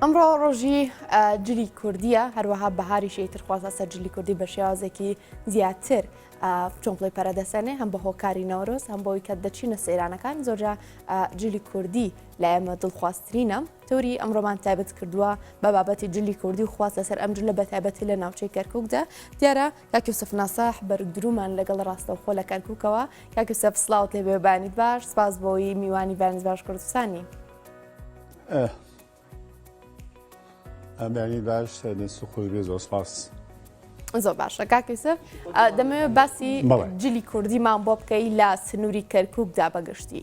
ئەمڕۆ ڕۆژی جلی کوردیە هەروەها بەهاریشی ترخوازە سەر جلی کوردی بە شێوازێکی زیاتر چۆمپڵی پەرەدەسەنێ هەم بە هۆکاری نەورۆز هەم بۆی کە دەچینە سەیرانەکان زۆرجا جلی کوردی لە ئێمە دڵخوازترینە تۆری ئەمڕۆمان تایبەت کردووە بە بابەتی جلی کوردی و خواست لەسەر ئەم جلە بە تایبەتی لە ناوچەی کەرککدا دیارە کاکی سف ناساح بەرودرومان لەگەڵ ڕاستەوخۆ لە کەرککەوە کاکی سەف سلااوت لێبێبانیت باش سپاس بۆی میوانی بانز باش کوردستانی. ئەمانی باش دەست و خۆش بێ زۆر سپاس. زۆر باشە کاکەیسف دەمەوێت باسی جلی کوردیمان بۆ بکەی لە سنووری کەرکووکدا بەگشتی.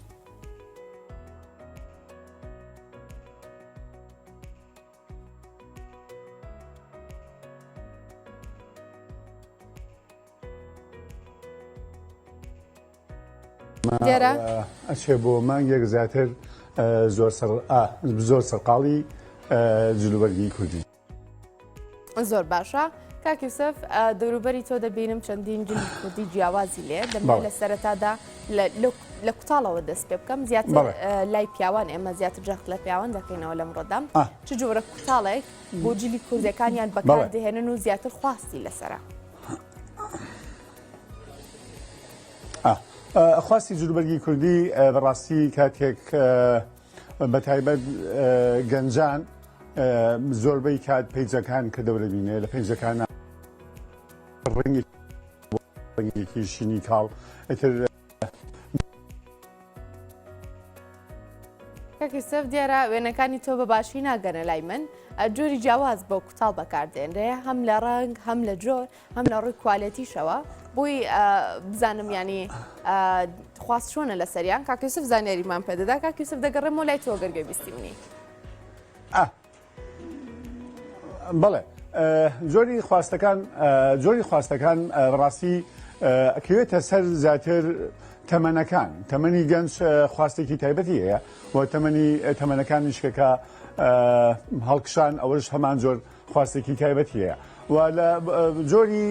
دیارە ئەچێ بۆ مانگێک زیاتر زۆر زۆر سەرقاڵی جلوبەرگی کوردی زۆر باشە کاکیسف دەوروبەری تۆ دەبینم چەندین جلی کوردی جیاوازی لێ دەمە لە سەرەتادا لە کوتاڵەوە دەست پێ بکەم زیاتر لای پیاوان ئێمە زیاتر جەخت لە پیاوان دەکەینەوە لەم ڕۆدام چ جۆرە کوتاڵێک بۆ جلی کوردەکانیان بەکار دەهێنن و زیاتر خواستی لەسرە. خواستی جلوبەرگی کوردی بەڕاستی کاتێک بە تایبەت گەنجان زۆربەی کات پیجەکان کە دەورە بینێ لە پێنجەکان ڕنگی ڕنگێکی شینی کاڵ ئەتر کەکیسەف دیارە وێنەکانی تۆ بە باشی ناگەنە لای من جۆری جیاواز بۆ کوتاڵ بەکاردێنرێ هەم لە ڕنگ هەم لە جۆر هەم لە ڕووی کوالێتیشەوە بۆی بزانم ینی خواست چۆنە لە سەریان کاکەسف زانیاریمان پێدەدا کاکەسف دەگەڕێم و لای تۆ گەرگە بیستی منی بڵێ زۆری خواستەکان زۆری خواستەکان ڕاستی ئەکەوێتە سەر زیاتر تەمەنەکان تەمەنی گەنج خواستێکی تایبەتی هەیە و تەمەنی تەمەنەکان نیشکەکە هەڵکشان ئەوەش هەمان زۆر خواستێکی تایبەتی هەیە و لە جۆری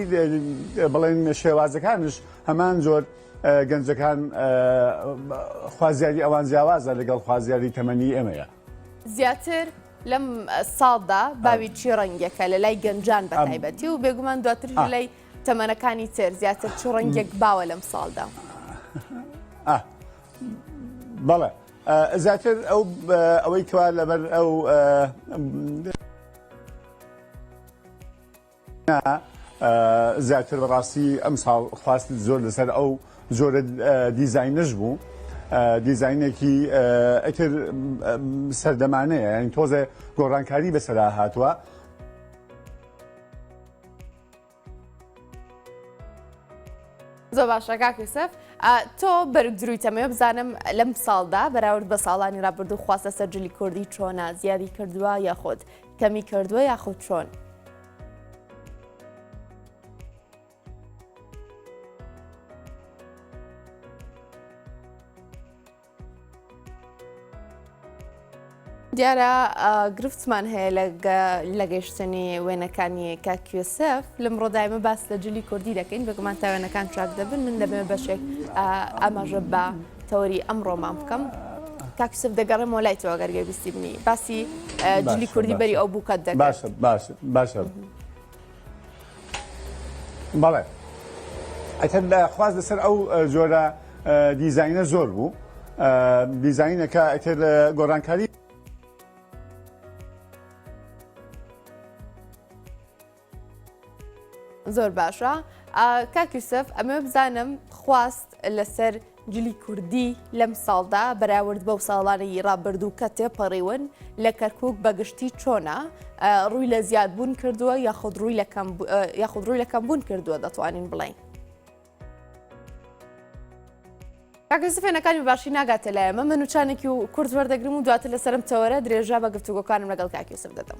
بڵێن شێوازەکانش هەمان جۆر گەنجەکان خوازیاری ئەوان جیاوازە لەگەڵ خوازیاری تەمەنی ئێمەیە زیاتر لەم ساڵدا باوی چی ڕەنگەکە لە لای گەنجان بە تایبەتی و بێگومان دواتر لەلای تەمەنەکانی تر زیاتر چ ڕەنگێک باوە لەم ساڵدا بەڵێ زیاتر ئەو ئەوەی کەوا لەبەر ئەو زیاتر بەڕاستی ئەم ساڵ خواست زۆر لەسەر ئەو زۆرە دیزینش بوو دیزینێکی ئەتر سەردەمانەیە یعنی تۆزێ گۆڕانکاری بەسەرا هاتووە زۆر باشە کاک یوسف ئا، تۆ بەرگ دروی تەمەوێ بزانم لەم ساڵدا بەراورد بە ساڵانی ڕابردوو خواست لەسەر جلی کوردی چۆنە زیادی کردووە یاخود کەمی کردووە یاخود چۆن دیارە گرفتمان هەیە لە گەشتنی وێنەکانی کاکیسف لەم ڕۆدایمە باس لە جلی کوردی دەکەین بەگومان تا وێنەکان چاک دەبن من دەبێ بەشێک ئاماژە بە تەوەری ئەم ڕۆمان بکەم کاکیسف دەگەڕێم وەلای تۆ گەرگەویستی بنی باسی جلی کوردی بەری ئەو بووکەت دەباشە باشە باشە. بەڵێ ئەتر لە خواست لەسەر ئەو جۆرە دیزینە زۆر بوو دیزینەکە ئەتر گۆرانکاری زۆر باشە کاکیوسف ئەمە بزانم خواست لەسەر جلی کوردی لەم ساڵدا بەراورد بەو ساڵانەی ڕابردوو کە تێپەڕیون لە کەرکک بەگشتی چۆنا ڕووی لە زیادبوون کردووە یاخود ڕووی یاخود ڕووی لەکەم بوون کردووە دەتوانین بڵین. کاکەسی فێنەکانی باشی ناگاتە لایەمە من وچانێکی و کورد وەردەگرم و دواتر لەسرم تەوەرە درێژە بە گفتوگۆکانم لەگەڵ کاکیوسف دەدەم.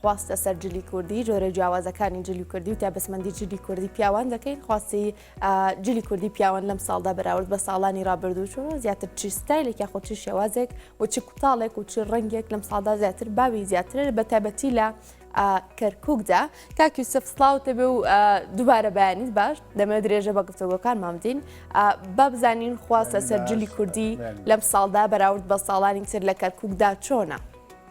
خواست لەسەر جلی کوردی جۆرە جیاوازەکانی جلی کوردی و تابسمەندی جلی کوردی پیاوان دەکەین خواستی جلی کوردی پیاوان لەم ساڵدا بەراورد بە ساڵانی رابردوو چۆن زیاتر چی ستایلێک یاخۆ چی شێوازێک و چی کوتاڵێک و چی ڕنگێک لەم ساڵدا زیاتر باوی زیاتر بە تابەتی لە کەرککدا کاکی سف سلااوتە بێ و دووبارە بەیانیت باش دەمە درێژە بە گفتەوەکان مامدین با بزانین خواست لەسەر جلی کوردی لەم ساڵدا بەراورد بە ساڵانی تر لە کەرککدا چۆنە.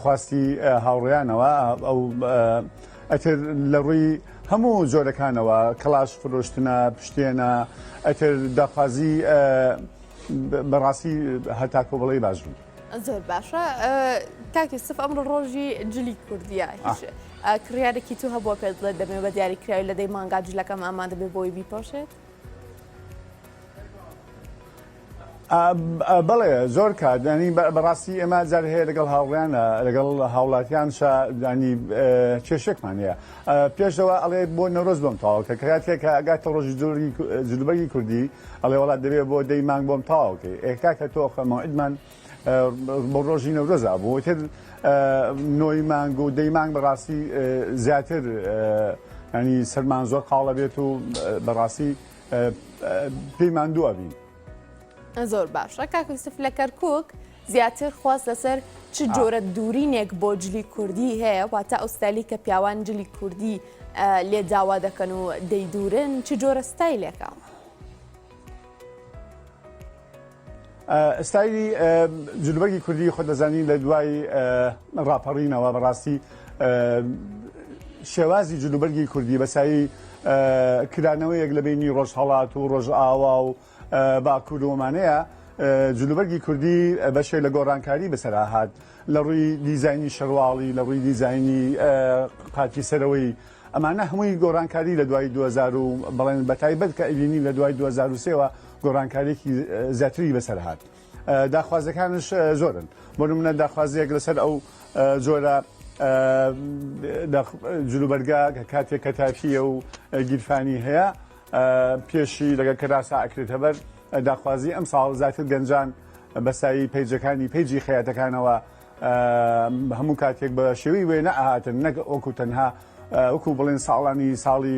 خواستی هاوڕێیانەوە ئەو ئەتر لە ڕووی هەموو جۆرەکانەوە کەڵاش فرۆشتنە پشتێنە ئەتر داخوازی بەڕاستی هەتاکۆ بڵێ باش بوو. زۆر باشە کاکی سف ئەمڕۆ ڕۆژی جلی کوردیە هیچ کڕارێکی تو هەبووە پێ بڵێ دەمێ بە دیاری کراوی لە دەی مانگا جلەکەم ئامادە بێ بۆی بیپۆشێت. بەڵێ زۆر کات دانی بەڕاستی ئێمە جار هەیە لەگەڵ هاوڕیان لەگەڵ هاوڵاتیان شدانی کێشێکمان هەیە پێشەوە ئەڵێ بۆ نەرۆز بۆم تاواکە کاتێک ئەگاتە ڕۆژی زۆری جلوبەری کوردی ئەڵێ وڵات دەبێت بۆ دەی مانگ بۆم تاواکەی ئێکاکە تۆخەمەوەئدمان بۆ ڕۆژی نەورۆزا بوو تر نۆی مانگ و دەی مانگ بەڕاستی زیاتر ینی سەرمان زۆر قاڵە بێت و بەڕاستی پێی ماندووە بین. زۆر باشە کاکوسف لە کەرکک زیاتر خواست لەسەر چ جۆرە دوورینێک بۆ جلی کوردی هەیە واتە ئەو ستایلی کە پیاوان جلی کوردی لێ داوا دەکەن و دەیدورن چ جۆرە ستایلێکە. ستایلی جلوبەرگی کوردی خۆ دەزانین لە دوای ڕاپەڕینەوە بەڕاستی شێوازی جلوبەرگی کوردی بەسایی کرانەوەیەک لە بینی ڕۆژهڵات و ڕۆژئاوا و باکوور ومانەیە جلوبەرگی کوردی بەشێ لە گۆڕانکاری بەسەراهات لە ڕووی دیزایانی شەرواڵی لە ڕووی دیزایانی قاچی سەرەوەی ئەمانە هەمووی گۆڕانکاری لە دوای 2000 بڵێن بەتایبەت کە ئەبینین لە دوای 2023ەوە گۆڕانکاریەکی زیاتری بەسەر هات داخوازەکانش زۆرن بۆ منە داخوازیەک لەسەر ئەو جۆرە جلوبەرگا کە کاتێک کە تاکیە و گیرفانی هەیە پێشی لەگە کەراسا ئەکرێتە بەر داخوازی ئەم ساڵ زیاتر گەنجان بەسایی پیجەکانی پیجی خەیاتەکانەوە هەموو کاتێک بە شێوی وێنە ئاهاتن نەک ئۆکو تەنها وەکو بڵێن ساڵانی ساڵی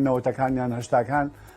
نەوەتەکانیان هەشتاکان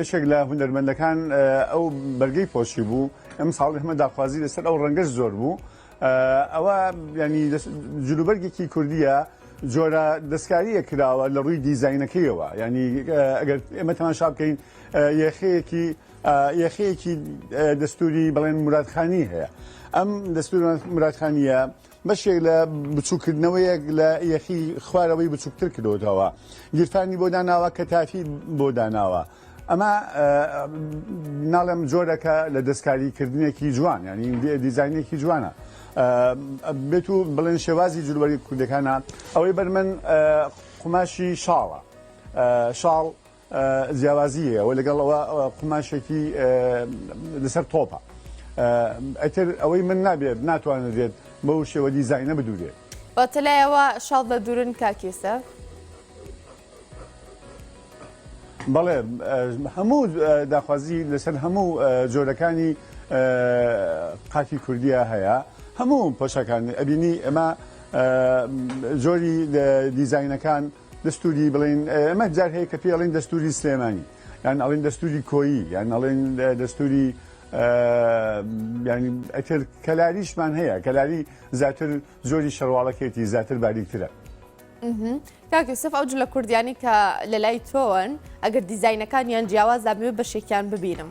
یەکێک لە هونەرمەندەکان ئەو بەرگەی پۆشی بوو ئەم ساڵ هەمە داخوازی لەسەر ئەو ڕەنگەش زۆر بوو ئەوە ینی جلوبەرگێکی کوردیە جۆرە دەستکاریە کراوە لە ڕووی دیزینەکەیەوە ینی ئەگەر ئێمە تەماشا بکەین یەخەیەکی یەخەیەکی دەستوری بڵێن مرادخانی هەیە ئەم دەستور مرادخانیە بەشێک لە بچووکردنەوەیەک لە یەخی خوارەوەی بچووکتر کردوتەوە گیرفانی بۆ داناوە کە تافی بۆ داناوە ئەمە ناڵێم جۆرەکە لە دەستکاریکردنێکی جوان ینی دیزانینێکی جوانە بێت و بڵێن شێوازی جلوەری کوردەکانە ئەوەی بەر من قوماشی شاڵە شاڵ جیاوازی هەیە وە لەگەڵ ئەوە قوماشێکی لەسەر تۆپە ئەتر ئەوەی من نابێت ناتوانرێت بەو شێوە دیزینە بدورێت بەتەلایەوە شڵ بە دوورن کاکیسە بەڵێ هەموو داخوازی لەسەر هەموو جۆرەکانی قاکی کوردیا هەیە هەموو پۆشەکان ئەبینی ئەمە جۆری دیزینەکان دەستووری بڵێن ئەمە جار هەیە کە پێ ئەڵێن دەستووری سلێمانی یان ئەڵێن دەستووری کۆیی یان ئەڵێن دەستووری ینی ئەتر کەلاریشمان هەیە کەلاری زیاتر زۆری شەرواڵەکێتی زیاتر باریکترە کاکیسف ئەو جلە کوردیانی کە لە لای تۆن ئەگەر دیزینەکانیان جیاواز دابێ بەشێکیان ببینم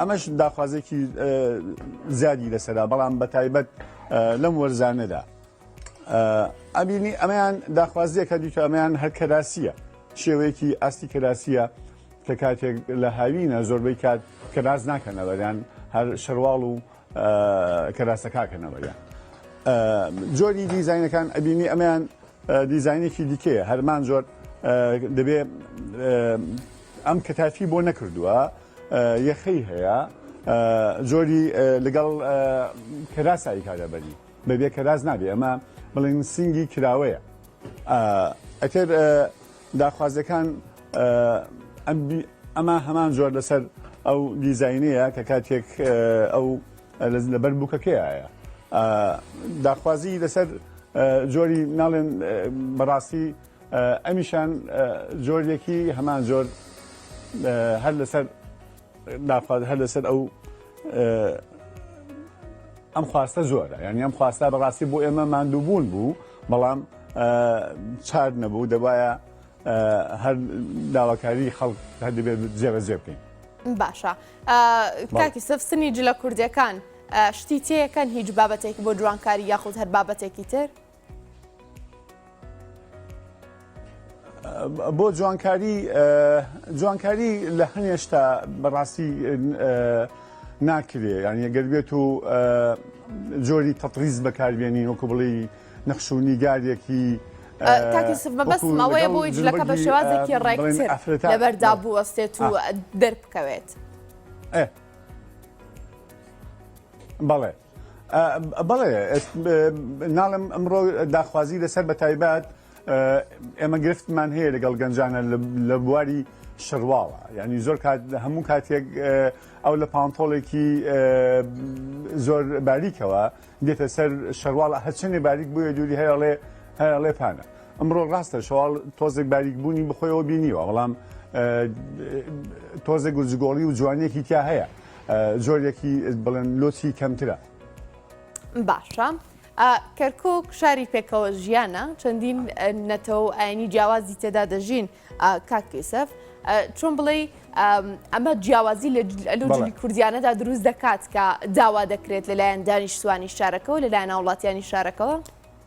ئەمەش داخوازێکی زیادی لەسەرا بەڵام بە تایبەت لەم وەرزانەدا ئەبینی ئەمەیان داخوازیەکە دیکە ئەمەیان هەر کەراسیە شێوەیەکی ئاستی کەراسیە کە کاتێک لە هاوینە زۆربەی کات کەراس ناکەنەوەیان هەر شەرواڵ و کەراسەکەکەنەوەیان جۆری دیزینەکان ئەبینی ئەمەیان دیزینێکی دیکەیە هەرمان زۆر دەبێ ئەم کەتافی بۆ نەکردووە یەخەی هەیە زۆری لەگەڵ کەراسایی کارە بەری بەبێ کەراز نابێ ئەمە بڵین سنگی کراوەیە ئەتر داخوازەکان ئەمە هەمان زۆر لەسەر ئەو دیزینەیە کە کاتێک ئەو لەبەر بووکەکەیە داخوازی لەسەر زۆری ناڵێن بەڕاستی ئەمیشان جۆرێکی هەمان جۆر هەر لەسەر داخوات هەر لەسەر ئەو ئەم خواستە زۆرە یعنی ئەم خواستا بەڕاستی بۆ ئێمە مادووبوون بوو بەڵام چار نەبوو دەبایە هەر داواکاری خەڵک هەر دەبێت جێبەجێ بکەین باشە کاکی سف سنی جلە کوردەکان شتی تێەکەن هیچ بابەتێک بۆ جوانکاری یاخود هەر بابەتێکی تر بۆ جوانکاری جوانکاری لە هەنێشتا بەڕاستی ناکرێ یان یەگەر بێت و جۆری تەتریز بەکاربیێنین وەکو بڵی نەخش و نیگارێکی تاکیسمەوەی بۆی جلەکە بە شێوازێکی ڕێکتر لەبەردا بوەستێت و دەربکەوێت بەڵێ بەڵێ ناڵم ئەمڕۆ داخوازی لەسەر بە تایبەت ئێمە گرفتمان هەیە لەگەڵ گەنجانە لە بواری شەرواڵە ینی زۆر کات هەموو کاتێک ئەو لە پانتۆڵێکی زۆر باریکەوە دێتە سەر شەرواڵە هەچەندێ باریک بووە دووری هەیەڵێ هەیەڵێ پانە ئەمڕۆ ڕاستە شەواڵ تۆزێک باریک بوونی بخۆیەوە بینیوە بەڵام تۆزێک گوزگۆڵی و جوانێکی تیا هەیە جۆرێکی بڵێن لۆچی کەمترە. باشە ئا کەرکوک شاری پێکەوە ژیانە چەندین ئە نەتەوە و ئاینی جیاوازی تێدا دەژین ئا کاک یوسف ئە چۆن بڵێی ئەم ئەمە جیاوازی لە جل ئەلو بەڵێ جلی کوردیانەدا دروست دەکات کە داوا دەکرێت لەلایەن دانیشتوانی شارەکەەوە لەلایەن هاوڵاتیانی شارەکەوە؟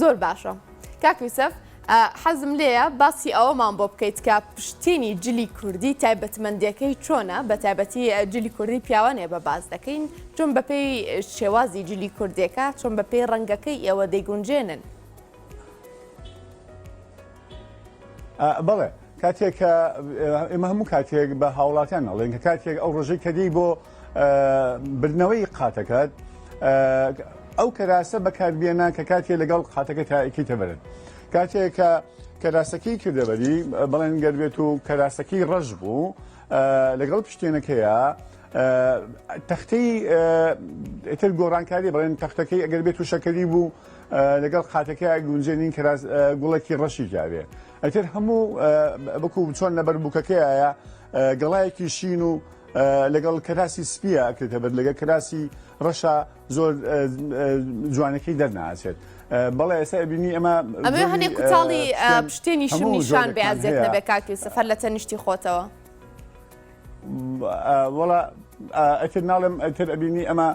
زۆر باشە کاک یوسف حەزم لێیە باسی ئەوەمان بۆ بکەیت کە پشتینی جلی کوردی تایبەتمەندەکەی چۆنە بە تایبەتی جلی کوردی پیاوانێ بە باز دەکەین چۆن بەپێی شێوازی جلی کوردێکە چۆن بەپێی ڕەنگەکەی ئێوە دەیگونجێنن بەڵێ کاتێک کە ئێمە هەموو کاتێک بە هاوڵاتیان ئەڵێن کە کاتێک ئەو ڕژەی کەدی بۆ بردنەوەی قاتەکەت ئەو کەراسە بەکاربیێنە کە کاتێ لەگەڵ قاتەکە تاکی تەبرن کاتێک کە کەراسەکەی کردەبەری بەڵێن گەربێت و کەراسەکەی ڕەش بوو لەگەڵ پشتێنەکەیە تەختەی ئتر گۆڕانکاری بڵێن تەختەکەی ئەگەر بێت و شەکەری بوو لەگەڵ قاتەکە گونجێ نین کراس گوڵێکی ڕەشی کاوێ ئەتر هەموو بکو چۆن نەبەر بووکەکەیە گەڵایەکی شین و لەگەڵ کراسی سپیە ئەکرێتە بەر لەگە کراسی ڕەشە زۆر جوانەکەی دەرناچێت بەڵێ ئێستا بینی ئەمە ئەمە هەنێک کوتاڵی پشتێنی شمیشان بەزێت نەبێ کاکی سەفەر لە تەنیشتی خۆتەوە وڵا ئەتر ناڵێم ئەتر ئەبینی ئەمە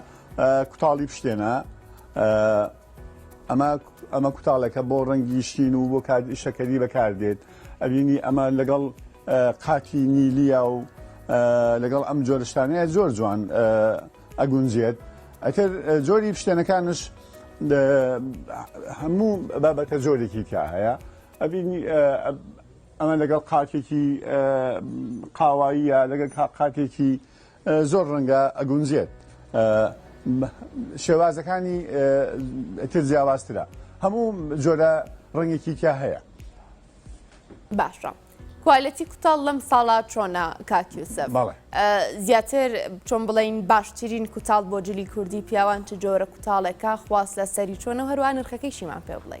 کوتاڵی بشتێنە ئەمە ئەمە کوتاڵەکە بۆ ڕەنگی شتین و بۆ کات شەکەری بەکاردێت ئەبینی ئەمە لەگەڵ قاتی نیلیە و لەگەڵ ئەم جۆرشتانەیە زۆر جوان ئەگونجێت ئەتر جۆری شتێنەکانش هەموو بابەتە جۆرێکی تیا هەیە ئەبینی ئەمە لەگەڵ قاتێکی قاواییە لەگەڵ قاتێکی زۆر ڕەنگە ئەگونجێت شێوازەکانی تر جیاوازترە هەموو جۆرە ڕەنگێکی تیا هەیە باشە کوالەتی کوتاڵ لەم ساڵا چۆنە کاکیوسە زیاتر چۆن بڵین باشترین کوتاڵ بۆ جلی کوردی پیاوان چ جۆرە کوتاڵێکە خواست لە سەری چۆنە هەروان نرخەکەیشیمان پێ بڵێ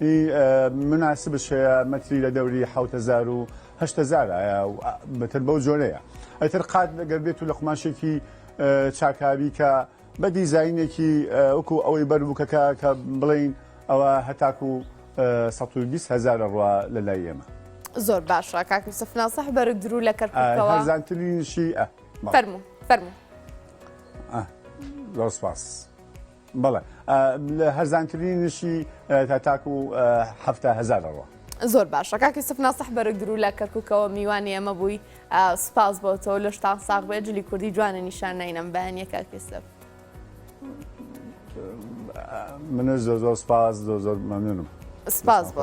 ی مناسبت شەیە مەتری لە دەوری حەوت هەزار و هەشت هەزار ئایا بەتر بەو جۆرەیە ئەتر قات گەر بێت و لە قوماشێکی چاکاوی کە بە دیزاینێکی وەکو ئەوەی بەر بووکەکە کە بڵین ئەوە هەتاکو سەد و بیست هەزارە ڕوا لە لای ئێمە زۆر باشە کاک یوسف ناسح بەرە درو لە کەرکووکەوە هەرزانترینشی ئە فەرموو فەرموو آه، زۆر سپاس بەڵێ لە هەرزانترینشی تا تاکو هەفتا هەزار دەڕوا. زۆر باشە کاکی سف ناسەح بەرگ درو لە کەرککەوە میوانی ئەمە بووی سپاس بۆ تۆ لە شتان ساغ بێ جلی کوردی جوانە نیشان نینم بەیانە کاکی سف منە زۆر زۆر سپاس زۆر زۆر مەمنونم سپاس بۆ.